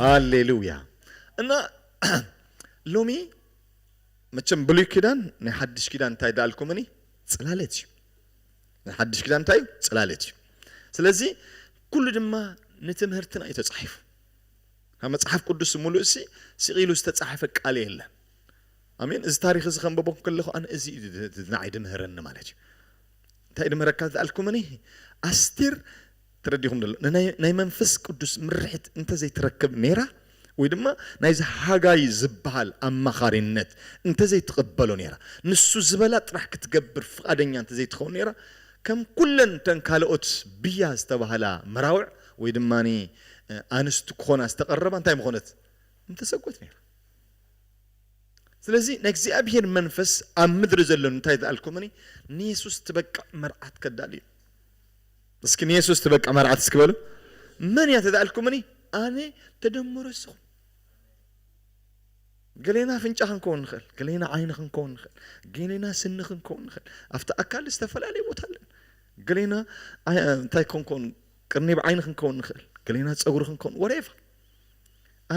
ሃሌሉያ እና ሎሚ መቸም ብሉይ ኪዳን ናይ ሓድሽ ኪዳን እንታይ ዳልኩምኒ ጽላለት እዩ ናይ ሓድሽ ኪዳን እንታይ እዩ ጽላለት እዩ ስለዚ ኩሉ ድማ ንትምህርትና እዩ ተጻሒፉ ካብ መጽሓፍ ቅዱስ ሙሉእ ሲ ስቂሉ ዝተጻሕፈ ቃል የለን ኣሜን እዚ ታሪኽ እዚ ከንበቦ ከለኹ ኣነ እዚ ንዓይ ድምህረኒ ማለት እዩ እንታይ ድምህረካ ዝኣልኩምኒ ኣስቴር ተረዲኹም ደሎ ናይ መንፈስ ቅዱስ ምርሒት እንተዘይትረክብ ነይራ ወይ ድማ ናይዚ ሃጋይ ዝበሃል ኣማኻሪነት እንተዘይትቕበሎ ነይራ ንሱ ዝበላ ጥራሕ ክትገብር ፍቓደኛ እንተዘይትኸውን ነይራ ከም ኩለን እተን ካልኦት ብያ ዝተባህላ መራውዕ ወይ ድማ ኣንስቲ ክኾና ዝተቐረባ እንታይ ምኾነት ምተሰጎት ነይራ ስለዚ ናይ እግዚኣብሄር መንፈስ ኣብ ምድሪ ዘሎ እንታይ ዝኣልኩምኒ ንየሱስ ትበቅዕ መርዓት ከዳሉ እዩ እስኪ ንየሱስ ትበቅዕ መርዓት እስኪ በሉ መን እያ ተዝኣልኩምኒ ኣነ ተደምሮ እስኹም ገሌና ኣፍንጫ ክንከውን ንኽእል ገሌና ዓይኒ ክንከውን ንኽእል ገሌና ስኒ ክንከውን ንኽእል ኣብቲ ኣካል ዝተፈላለየ ቦታ ኣለን ገሌና እንታይ ክንከውን ቅርኒብ ዓይኒ ክንከውን ንኽእል ገሌና ፀጉሪ ክንከውን ወሬቫ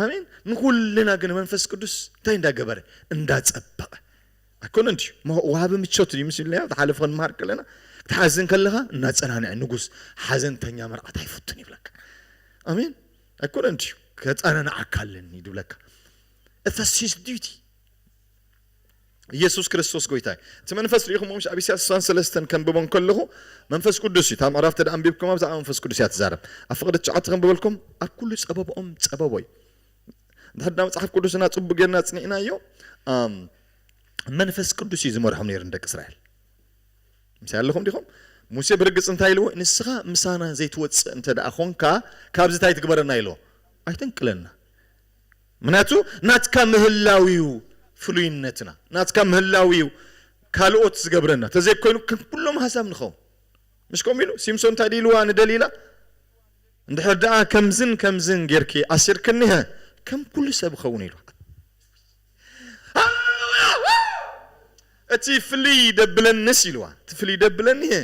ኣሜን ንኩልና ግን መንፈስ ቅዱስ እንታይ እንዳ ገበረ እንዳ ጸበቀ ኣይኮነን ድዩ ወሃቢ ምቾት እዩ ምስ ኢልና ዝሓለፈ ክንምሃር ከለና ክትሓዝን ከለኻ እናጸናንዐ ንጉስ ሓዘንተኛ መርዓት ኣይፍቱን ይብለካ ኣሜን ኣይኮነን ድዩ ከጸናንዓካ ኣለኒ ይብለካ እተሲስ ዲዩቲ ኢየሱስ ክርስቶስ ጎይታ እዩ። እቲ መንፈስ ርኢኹምዎ ምሽ ኣብ ኢሳያስ ዕስራን ሰለስተን ከንብቦ እንከለኹ መንፈስ ቅዱስ እዩ እታ ምዕራፍ ተደኣ ኣንቢብኩማ ብዛዕባ መንፈስ ቅዱስ እያ ትዛረብ ኣብ ፍቅዲ ትሽዓተ ከንብበልኩም ኣብ ኩሉ ጸበብኦም ጸበቦ እዩ እንድሕር ዳ መጽሓፍ ቅዱስና ጽቡቅ ጌርና ጽኒዕናዮ መንፈስ ቅዱስ እዩ ዝመርሖም ነይሩ ንደቂ እስራኤል ምሳይ ኣለኹም ዲኹም ሙሴ ብርግጽ እንታይ ኢልዎ ንስኻ ምሳና ዘይትወጽእ እንተ ደኣ ኾንካ ካብዚ እንታይ ትግበረና ኢልዎ ኣይተንቅለና ምክንያቱ ናትካ ምህላው ኢዩ ፍሉይነትና፣ ናትካ ምህላው ኢዩ ካልኦት ዝገብረና፣ ተዘይኮይኑ ከም ኩሎም ኣህዛብ ንኸውን። ምሽ ከምኡ ኢሉ ሲምሶን እንታይ ድዩ ኢልዋ ንደሊላ እንድሕር ደኣ ከምዝን ከምዝን ጌርኪ ኣሲርክኒ ሀ ከም ኩሉ ሰብ እኸውን ኢልዋ። እቲ ፍልይ ደብለንስ ኢልዋ እቲ ፍልይ ደብለኒ ሀ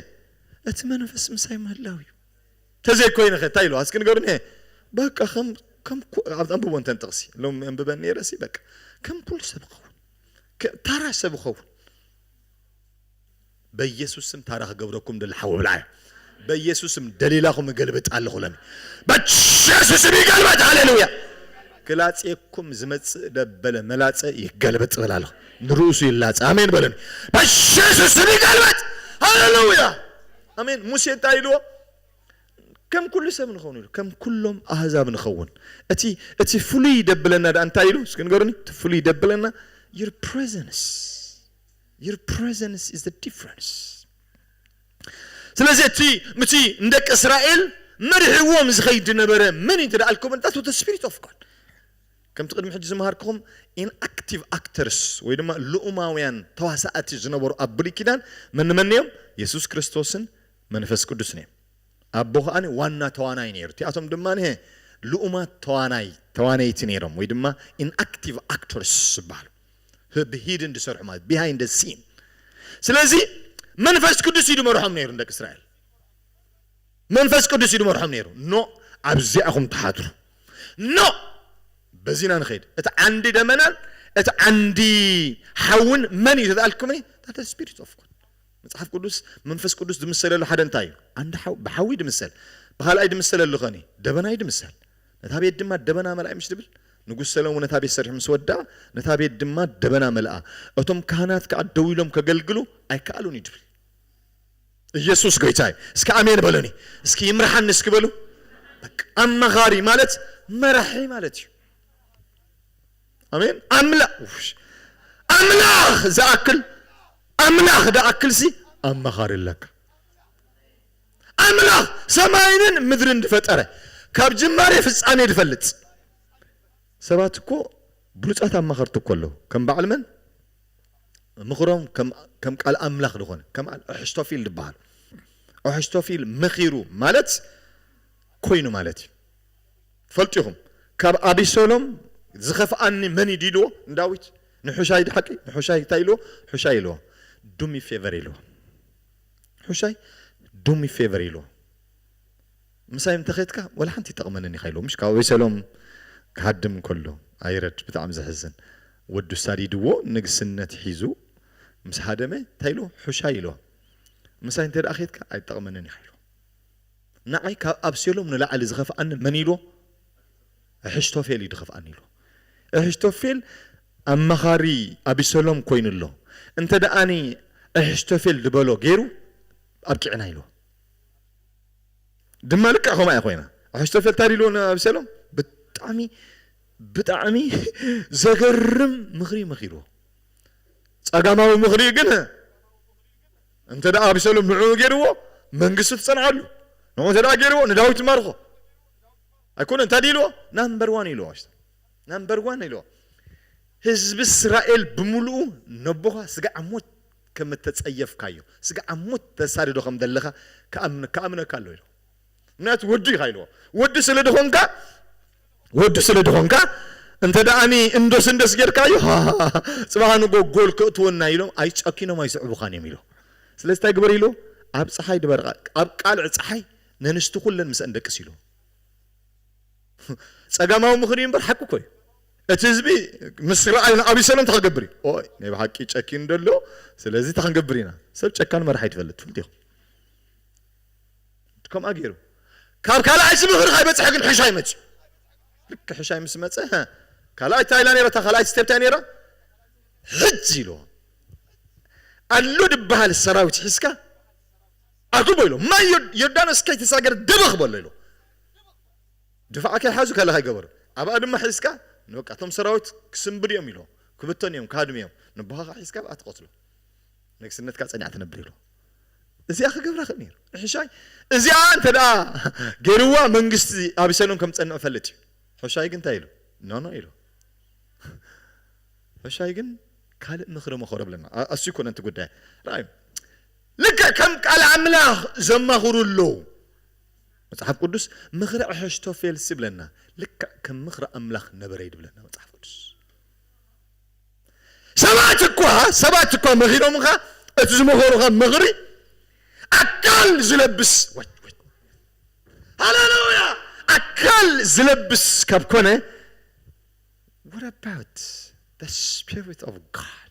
እቲ መንፈስ ምሳይ ምህላው ኢዩ። ተዘይኮይነኸ ታይ ኢሉ ኣስኪ ንገሩኒ በቃ ከም ከም ኩ ኣንብቦ እንተ ጥቅሲ ሎሚ ኣንብበ ነይረ ሲ በቃ ከም ኩሉ ሰብ እኸውን ታራ ሰብ እኸውን በኢየሱስ ስም ታራ ክገብረኩም ደሊ ሓዊ ብልዓዮ በኢየሱስ ስም ደሊላኹም እገልብጥ ኣለኹ ሎሚ በኢየሱስ ስም ይገልበጥ ሃሌሉያ ክላጼኩም ዝመጽእ ደበለ መላጸ ይገልበጥ በል ኣለኹ ንርእሱ ይላጸ ኣሜን በለኒ በኢየሱስ ስም ይገልበጥ ሃሌሉያ ኣሜን ሙሴ እንታይ ኢልዎ ከም ኩሉ ሰብ ንኸውን ኢሉ ከም ኩሎም ኣህዛብ ንኸውን እቲ እቲ ፍሉይ ደብለና ደኣ እንታይ ኢሉ እስኪ ንገሩኒ እቲ ፍሉይ ደብለና your presence your presence is the difference ስለዚ እቲ ምቲ ንደቂ እስራኤል መሪሕዎም ዝኸይድ ዝነበረ መን እዩ እንተ ደኣልኩም እንታስ the spirit of God ከምቲ ቅድሚ ሕጂ ዝመሃርክኹም ኢንኣክቲቭ ኣክተርስ ወይ ድማ ልኡማውያን ተዋሳእቲ ዝነበሩ ኣብ ብሉይ ኪዳን መን መን እዮም? የሱስ ክርስቶስን መንፈስ ቅዱስን እዮም። ኣቦ ከኣ ዋና ተዋናይ ነይሩ። እቲኣቶም ድማ ሀ ልኡማት ተዋናይ፣ ተዋነይቲ፣ ነይሮም ወይ ድማ ኢንኣክቲቭ ኣክተርስ ዝበሃሉ። ህ ብሂድን ዝሰርሑ ማለት ቢሃይንድ ደ ሲን። ስለዚ መንፈስ ቅዱስ እዩ ዝመርሖም ነይሩ ንደቂ እስራኤል። መንፈስ ቅዱስ እዩ ድመርሖም ነይሩ። ን ኣብዚኣ ኢኹም ትሓድሩ። ን በዚ ኢና ንኸይድ። እቲ ዓንዲ ደመናን እቲ ዓንዲ ሓውን መን እዩ ተተኣልኩምኒ? ዳት ስፒሪት ኦፍ ጎድ። መጽሓፍ ቅዱስ መንፈስ ቅዱስ ድምሰለሉ ሓደ እንታይ እዩ? ዓንዲ ሓው ብሓዊ ድምሰል። ብኻልኣይ ድምሰለሉ ኸኒ ደበና እዩ ድምሰል። ነታ ቤት ድማ ደበና መልኣይ ምሽ ድብል? ንጉስ ሰለሙን ነታ ቤት ሰሪሑ ምስ ወድኣ ነታ ቤት ድማ ደበና መልኣ። እቶም ካህናት ከኣ ደው ኢሎም ከገልግሉ ኣይከኣሉን እዩ ድብል። እየሱስ ጎይታ እዩ እስኪ ኣሜን በሉኒ እስኪ ይምርሓኒ እስኪ በሉ በቃ ኣማኻሪ ማለት መራሒ ማለት እዩ ኣሜን ኣምላ ኣምላኽ ዝኣክል ኣምላኽ ድኣክልሲ ኣማኻሪ ኣለካ ኣምላኽ ሰማይንን ምድርን ዝፈጠረ ካብ ጅማሬ ፍጻሜ ዝፈልጥ ሰባት እኮ ብሉጻት ኣማኸርቲ እኮ ኣለዉ ከም በዓል መን ምኽሮም ከም ቃል ኣምላኽ ድኾነ ከም ኣሕሽቶፊል ድበሃል ኣሕሽቶፊል መኺሩ ማለት ኮይኑ ማለት እዩ ፈልጡ ኢኹም ካብ ኣቢሰሎም ዝኸፍኣኒ መን እዩ ድኢልዎ ንዳዊት ንሑሻይ ድሓቂ ንሑሻይ እንታይ ኢልዎ ሑሻይ ኢልዎ ዱሚ ፌቨር ኢልዎ ሑሻይ ዱሚ ፌቨር ኢልዎ ምሳይ እንተ ከድካ ወላ ሓንቲ ይጠቅመንን ኢካ ኢልዎ ምሽ ካብ ኣበይ ሰሎም ክሃድም ከሎ ኣይረድ ብጣዕሚ ዘሕዝን ወዱ ሳዲድዎ ንግስነት ሒዙ ምስ ሃደመ ታይ ኢልዎ ሑሻይ ኢልዎ ምሳይ እንተ ከድካ ኣይትጠቅመንን ኢካ ኢልዎ ንዓይ ካብ ኣብሴሎም ንላዕሊ ዝከፍኣኒ መን ኢልዎ እሕሽቶፌል እዩ ድከፍኣኒ ኢልዎ እሕሽቶፌል ኣማካሪ ኣቢሰሎም ኮይኑ ኣሎ እንተ እሕሽቶፌል ድበሎ ገይሩ ኣብቂዕና ኢልዎ። ድማ ልክዕ ከምኣ እያ ኮይና ኣሕሽቶፌል ታይ ኢልዎ ንኣብሰሎም ብጣዕሚ ብጣዕሚ ዘገርም ምኽሪ መኺርዎ ጸጋማዊ ምኽሪ ግን እንተ ኣብሰሎም ንዕኡ ገይርዎ መንግስቱ ትጸንዓሉ ንኡ እንተ ገይርዎ ንዳዊት ትማርኾ ኣይኮነ እንታይ ኢልዎ ናምበር ዋን ኢልዎ ኣሽቶ ናምበር ዋን ኢልዎ ህዝቢ እስራኤል ብምሉኡ ነቦኻ ስጋዕ ሞት ከም እተጸየፍካዮ ስጋዕ ኣብ ሞት ተሳድዶ ከም ዘለኻ ክኣምን ክኣምነካ ኣሎ ኢልዎ ምክንያቱ ወዱ ኢኻ ኢልዎ ወዱ ስለ ድኾንካ ወዱ ስለ ድኾንካ እንተ ደኣኒ እንዶስ እንዶስ ጌርካዮ ሃሃሃ ጽባሕ ንግሆ ጎል ከእትወና ኢሎም ኣይ ጨኪኖም ኣይስዕቡኻን እዮም ኢልዎ ስለዚ እንታይ ግበር ኢልዎ ኣብ ጸሓይ ድበር ኣብ ቃልዕ ጸሓይ ነንስቲ ኩለን ምስኣን ደቅስ ኢልዎ ጸጋማዊ ምኽሪ እዩ እምበር ሓቂ እኮ እዩ እቲ ህዝቢ ምስ ረኣዩ ንኣቢሰሎም እንታይ ክገብር እዩ? ኦይ ናይ ብሓቂ ጨኪኑ ዶ ኣሎ ስለዚ እንታይ ክንገብር ኢና? ሰብ ጨካን መራሒ ኣይትፈልጥ ትፍልጡ ኢኹም። ከምኣ ገይሩ ካብ ካልኣይ እዚ ምኽሪ ከይበፅሐ ግን ሕሻይ መፅኡ። ልክ ሕሻይ ምስ መፀ ሀ ካልኣይ እንታይ ኢላ ነይራ? እታ ካልኣይቲ ስቴፕ እንታይ ነይራ? ሕጂ ኢልዎ ኣሎ ድበሃል ሰራዊት ሒዝካ ኣጉቦ ኢሎ ማይ ዮርዳኖስ ከይተሳገረ ደበኽ በሎ ኢሎ ድፋዕ ከይሓዙ ከለኻ ይገበሩ ኣብኣ ድማ ሒዝካ ንበቃ እቶም ሰራዊት ክስንብዱ እዮም ኢልዎ ክብተኑ እዮም ክሃድሙ እዮም ንቦኻኻ ሒዝካ ኣብኣ ትቐትሎ ንግስነትካ ጸኒዓ ትነብር ኢልዎ እዚኣ ክገብራ ክእል ነይሩ ንሕሻይ እዚኣ እንተደኣ ገይርዋ መንግስቲ ኣቢሰሎም ከም ዝጸንዕ ይፈልጥ እዩ ሕሻይ ግን እንታይ ኢሉ ኖኖ ኢልዎ ሕሻይ ግን ካልእ ምኽሪ መኸሮ ብለና ኣስዩ ኮነ እቲ ጉዳይ ራዩ ልክዕ ከም ቃል ኣምላኽ ዘማኽሩ ኣለዉ መጽሓፍ ቅዱስ ምኽሪ ኣሐሽቶፌልስ ይብለና ልክዕ ከም ምኽሪ ኣምላኽ ነበረ እዩ ድብለና መጽሓፍ ቅዱስ ሰባት እኳ ሰባት እኳ መኺሮምኻ እቲ ዝመኸሩኻ ምኽሪ ኣካል ዝለብስ ሃሌሉያ ኣካል ዝለብስ ካብ ኮነ what about the spirit of God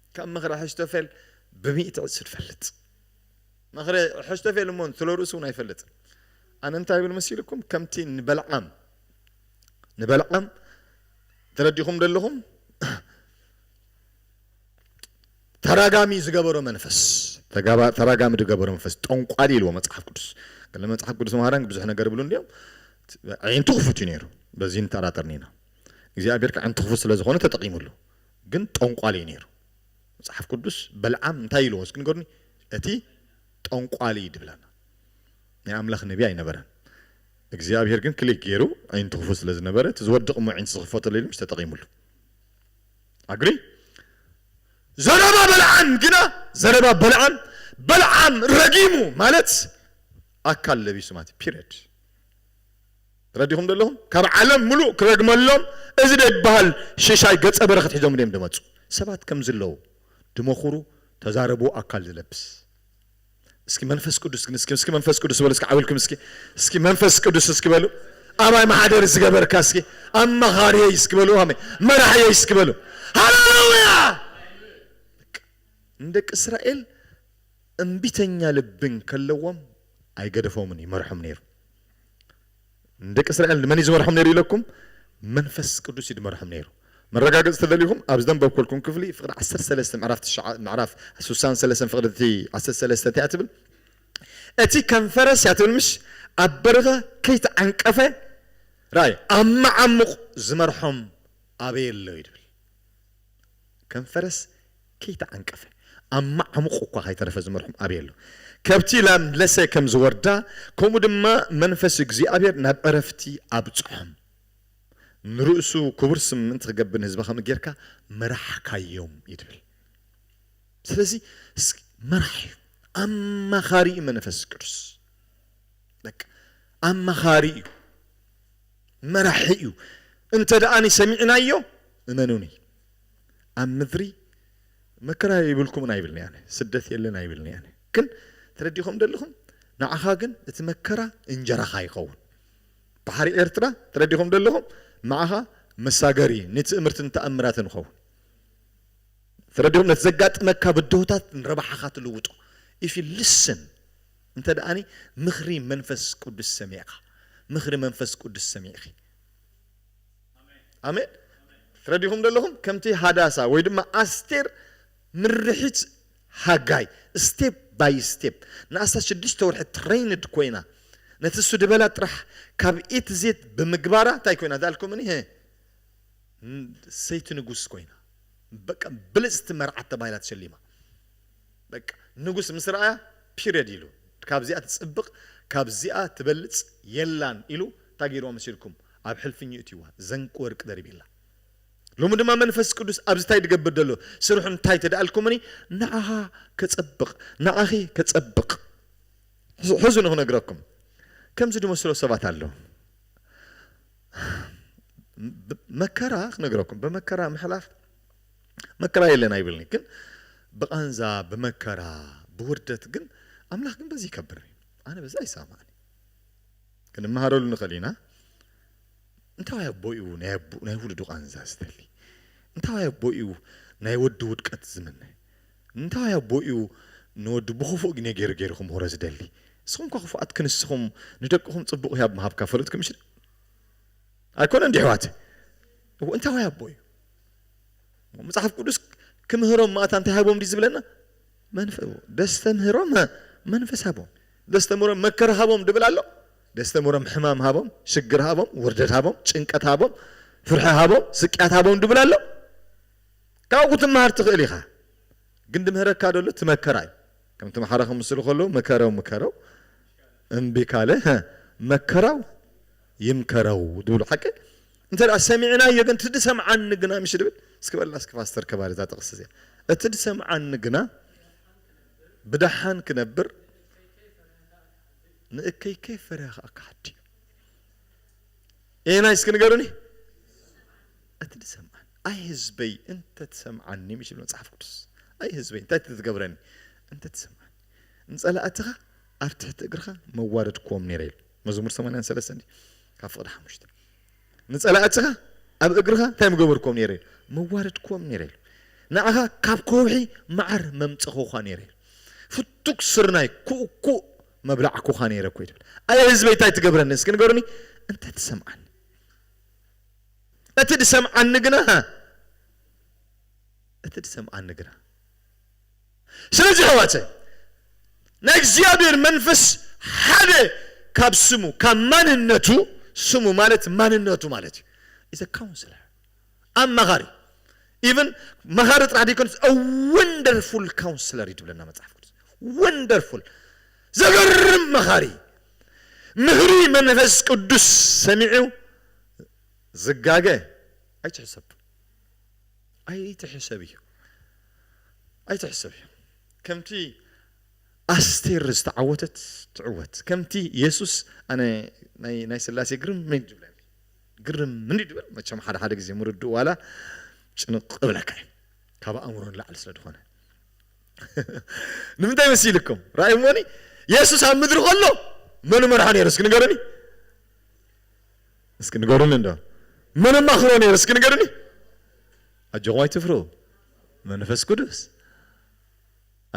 ካብ ምኽሪ ኣሕሽቶፌል ብሚእቲ ዕጽፊ ትፈልጥ። ምኽሪ ኣሕሽቶፌል እሞ ስለ ርእሱ እውን ኣይፈልጥን። ኣነ እንታይ እብል መሲሉኩም ከምቲ ንበልዓም ንበልዓም ተረዲኹምዶ ኣለኹም ተራጋሚ ዝገበሮ መንፈስ ተጋባ ተራጋሚ ዝገበሮ መንፈስ ጠንቋሊ ኢልዎ መጽሓፍ ቅዱስ ገለ መጽሓፍ ቅዱስ መሃራን ብዙሕ ነገር ይብሉ እንዲዮም ኣዒንቱ ክፉት እዩ ነይሩ በዚ ንጠራጠር ኒና እግዚኣብሔር ከዓንቱ ክፉት ስለ ዝኾነ ተጠቂሙሉ ግን ጠንቋሊ እዩ ነይሩ መጽሓፍ ቅዱስ በልዓም እንታይ ኢልዎ እስኪ ንገሩኒ እቲ ጠንቋሊ ድብለና ናይ ኣምላኽ ነቢ ኣይነበረን እግዚኣብሄር ግን ክሊክ ገይሩ ኣዒንቱ ክፉት ስለ ዝነበረ እቲ ዝወድቕ እሞ ኣዒንቱ ዝኽፈተሉ ኢሉ ምሽ ተጠቒምሉ ኣግሪ ዘረባ በልዓም ግና ዘረባ በልዓም በልዓም ረጊሙ ማለት ኣካል ለቢሱ ማለት ፒሪድ ረዲኹም ዶ ኣለኹም ካብ ዓለም ምሉእ ክረግመሎም እዚ ደይብሃል ሽሻይ ገጸ በረከት ሒዞም ድዮም ድመጹ ሰባት ከምዚ ኣለዉ ድመኹሩ ተዛረቡ ኣካል ድለብስ እስኪ መንፈስ ቅዱስ ግን እስኪ እስኪ መንፈስ ቅዱስ በሉ እስኪ ዓውልኩም እስኪ እስኪ መንፈስ ቅዱስ እስኪ በሉ ኣባይ ማሓደር ዝገበርካ እስኪ ኣማኻርየይ እስኪ በሉ ኣሜ መራሕየይ እስኪ በሉ ሃሌሉያ ንደቂ እስራኤል እምቢተኛ ልቢ እንከለዎም ኣይገደፎምን ይመርሖም ነይሩ ንደቂ እስራኤል ንመን እዩ ዝመርሖም ነይሩ ኢለኩም? መንፈስ ቅዱስ እዩ ድመርሖም ነይሩ። መረጋገጺ ተደልዩኩም ኣብዚ ደንበብኩልኩም ክፍሊ ፍቅዲ ዓሰርተ ሰለስተ ምዕራፍ ትሽዓ ምዕራፍ ሱሳን ሰለሰን ፍቅዲ እቲ ዓሰርተ ሰለስተ እንታይ እያ ትብል እቲ ከም ፈረስ እያ ትብል ምሽ ኣብ በርኸ ከይተዓንቀፈ ራይ ኣብ መዓሙቕ ዝመርሖም ኣበየ ኣሎ እዩ ድብል ከም ፈረስ ከይተዓንቀፈ ኣብ መዓሙቝ እኳ ኸይተረፈ ዚመርሖም ኣበይ ኣሎ? ከብቲ ላም ለሰ ከም ዚወርዳ፣ ከምኡ ድማ መንፈስ እግዚኣብሄር ናብ ዕረፍቲ ኣብጽሖም። ንርእሱ ክቡር ስም ምእንቲ ኺገብር ንህዝቢ ኸምኡ ጌርካ መራሕካዮም እዩ ትብል። ስለዚ መራሒ እዩ፣ ኣማኻሪ እዩ መንፈስ ቅዱስ። በቃ ኣማኻሪ እዩ፣ መራሒ እዩ። እንተ ደኣኒ ሰሚዕናዮ፣ እመኑኒ፣ ኣብ ምድሪ መከራ የይብልኩምን ኣይብልን እየ ኣነ ስደት የለን ኣይብልን እየ ኣነ ግን ትረዲእኹም ደለኹም ንዓኻ ግን እቲ መከራ እንጀራኻ ይኸውን ባሕሪ ኤርትራ ትረዲእኹም ደለኹም ንዓኻ መሳገሪ ንትእምርትን ተኣምራትን ይኸውን ትረዲእኹም ነቲ ዘጋጥመካ ብድሆታት ንረብሓኻ ትልውጦ if you listen እንተ ደኣኒ ምኽሪ መንፈስ ቅዱስ ሰሚዕካ ምኽሪ መንፈስ ቅዱስ ሰሚዕኺ ኣሜን ትረዲኹም ዶ ኣለኹም ከምቲ ሃዳሳ ወይ ድማ ኣስቴር ምርሒት ሃጋይ step by step ንኣስታት ሽዱሽተ ወርሒ ትረይንድ ኮይና ነቲ ሱድበላ ጥራሕ ካብ A to Z ብምግባራ እንታይ ኮይና ዳልኩምኒ ህ ሰይቲ ንጉስ ኮይና በቃ ብልጽቲ መርዓት ተባሂላ ተሸሊማ። በቃ ንጉስ ምስ ረኣያ ፒርየድ ኢሉ ካብዚኣ ትጽብቅ ካብዚኣ ትበልጽ የላን ኢሉ ታይ ገይርዋ መሲልኩም ኣብ ሕልፍኝ የእትይዋ ዘንቂ ወርቂ ደሪቢላ ሎሚ ድማ መንፈስ ቅዱስ ኣብዚ ታይ ድገብር ደሎ ስርሑ እንታይ ተደኣልኩምኒ ንዓካ ከጸብቅ ንዓኪ ከጸብቅ ሕዙኒ ክነግረኩም ከምዚ ድመስሎ ሰባት ኣለዉ መከራ ክነግረኩም ብመከራ ምሕላፍ መከራ የለን ኣይብልን'ዩ ግን ብቃንዛ ብመከራ ብውርደት ግን ኣምላኽ ግን በዚ ይከብር ኣነ በዚ ኣይሳማዕን ክንመሃረሉ ንኽእል ኢና እንታዋይ ኣቦ'ዩ ናይ ኣቡ ናይ ውሉዱ ቃንዛ ዝተሊ እንታዋይ ኣቦ'ዩ ናይ ወዱ ውድቀት ዝምነ እንታዋይ ኣቦ'ዩ ንወዱ ብኽፉእ ግኔ ገይሩ ገይሩ ክምህሮ ዝደሊ ንስኹም እኳ ክፉኣት ክንስኹም ንደቅኹም ጽቡቕ ህያብ ምሃብካ ፈለጥኩም እሺ ኣይኮነን ዲሕዋት እዎ እንታዋይ ኣቦ'ዩ መጽሓፍ ቅዱስ ክምህሮም ማእታ እንታይ ሃቦም ድዩ ዝብለና? መንፈ ደስተምህሮም መንፈስ ሃቦም ደስተምህሮም መከራ ሃቦም ድብል ኣሎ ደስተምህሮም ሕማም ሃቦም ሽግር ሃቦም ውርደት ሃቦም ጭንቀት ሃቦም ፍርሒ ሃቦም ስቅያት ሃቦም ድብል ኣሎ ካብኡ ክትመሃር ትኽእል ኢኻ ግን ድምህረካ ደሎ ትመከራ እዩ ከም ተምሓራ ከምስሉ ከለዉ መከረው ምከረው እምቢ ካለ መከራው ይምከረው ዝብሉ ሓቂ እንተ ሰሚዕናዮ ግን እቲ ድሰምዓኒ ግና ምሽ ድብል እስኪ በላ እስኪ ፓስተር ከባሪ እዛ ጥቕሲ እዚኣ እቲ ድሰምዓኒ ግና ብደሓን ክነብር ንእከይ ከይ ፈሪሃ ከዓ ክሓዲ ኤና እስኪ ንገሩኒ እቲ ድሰምዓኒ ኣይ ህዝበይ እንተ ትሰምዓኒ ምሽ ብል መፅሓፍ ቅዱስ ኣይ ህዝበይ እንታይ ትትገብረኒ እንተ ትሰምዓኒ ንፀላእትኻ ኣብ ትሕቲ እግርኻ መዋረድክዎም ነይረ ኢሉ መዝሙር ሰማንያን ሰለስተን እዩ ካብ ፍቕዲ ሓሙሽተ ንጸላእትኻ ኣብ እግርኻ እንታይ ምገበርኩም ነይረ ኢሉ መዋረድኩም ነይረ ኢሉ ንዓኻ ካብ ከውሒ መዓር መምጸኹዃ ነይረ ኢሉ ፍቱክ ስርናይ ኩእኩእ መብላዕኩኻ ነይረ እኮ ይብል ኣየ ህዝበይ እንታይ ትገብረኒ እስኪ ንገሩኒ እንተ ትሰምዓኒ እቲ ድሰምዓኒ ግና እቲ ድሰምዓኒ ግና ስለዚ ኣሕዋተይ ናይ እግዚኣብሔር መንፈስ ሓደ ካብ ስሙ ካብ ማንነቱ ስሙ ማለት ማንነቱ ማለት እዩ ኢዝ አ ካውንስለር ኣማኻሪ ኢቨን መኻሪ ጥራሕ ደይኮነስ አ ወንደርፉል ካውንስለር እዩ ትብለና መጽሓፍ ቅዱስ ወንደርፉል ዘገርም መኻሪ ምኽሪ መንፈስ ቅዱስ ሰሚዑ ዝጋገ ኣይትሕሰብ ኣይትሕሰቢ ኣይትሕሰቢ ከምቲ ኣስቴር ዝተዓወተት ትዕወት ከምቲ የሱስ ኣነ ናይ ናይ ስላሴ ግርም ምን ድብለኒ ግርም ምን ድብል መቸም ሓደ ሓደ ግዜ ምርድኡ ዋላ ጭንቕ እብለካ እዩ ካብ ኣእምሮ ንላዕሊ ስለ ዝኾነ ንምንታይ መሲልኩም ራእይ እሞኒ የሱስ ኣብ ምድሪ ከሎ መን መርሓ ነይሩ እስኪ ንገሩኒ እስኪ ንገሩኒ እንዶ መን ኣማኽሮ ነይሩ እስኪ ንገሩኒ ኣጆኹም ኣይትፍርሁ መንፈስ ቅዱስ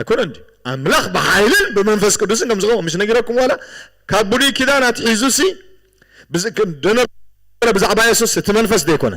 ኣይኮነን ድዩ ኣምላኽ ብሓይልን ብመንፈስ ቅዱስን ከም ዝኾነ ምሽ ነጊረኩም ዋላ ካብ ብሉይ ኪዳን ኣትሒዙሲ ደነበረ ብዛዕባ የሱስ እቲ መንፈስ ዘይኮነ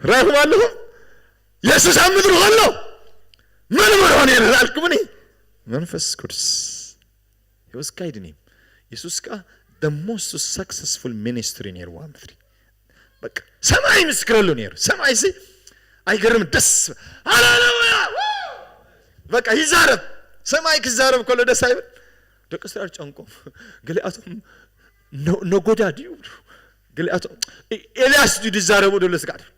ራይኹም ኣለኹም የሱስ ኣብ ምድሪ ከሎ መን መርሖ ነይረ ላልኩምኒ መንፈስ ቅዱስ he was guiding him የሱስ ከዓ the most successful ministry ነይሩ ኣብ ምድሪ በቃ ሰማይ ምስክረሉ ነይሩ ሰማይ ሲ ኣይገርም ደስ ሃሌሉያ በቃ ይዛረብ ሰማይ ክዛረብ ከሎ ደስ ኣይብል ደቂ እስራኤል ጨንቆም ገሊኣቶም ነጎዳ ድዩ ይብሉ ገሊኣቶም ኤልያስ ድዩ ዝዛረቡ ዘሎ ስጋዕ ትብሉ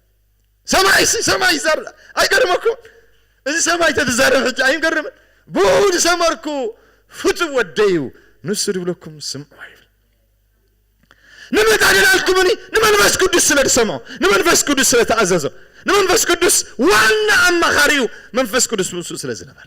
ሰማይ ሲ ሰማይ ይዛረብ ኣይገርመኩም እዚ ሰማይ ተትዛረብ ሕጂ ኣይንገርምን ብኡ ዝሰመርኩ ፍቱው ወደዩ ንሱ ዝብለኩም ስምዑ ይብል ንመታደላልኩምኒ ንመንፈስ ቅዱስ ስለ ዝሰምዖ ንመንፈስ ቅዱስ ስለ ተኣዘዞ ንመንፈስ ቅዱስ ዋና ኣማኻሪኡ መንፈስ ቅዱስ ምስኡ ስለ ዝነበረ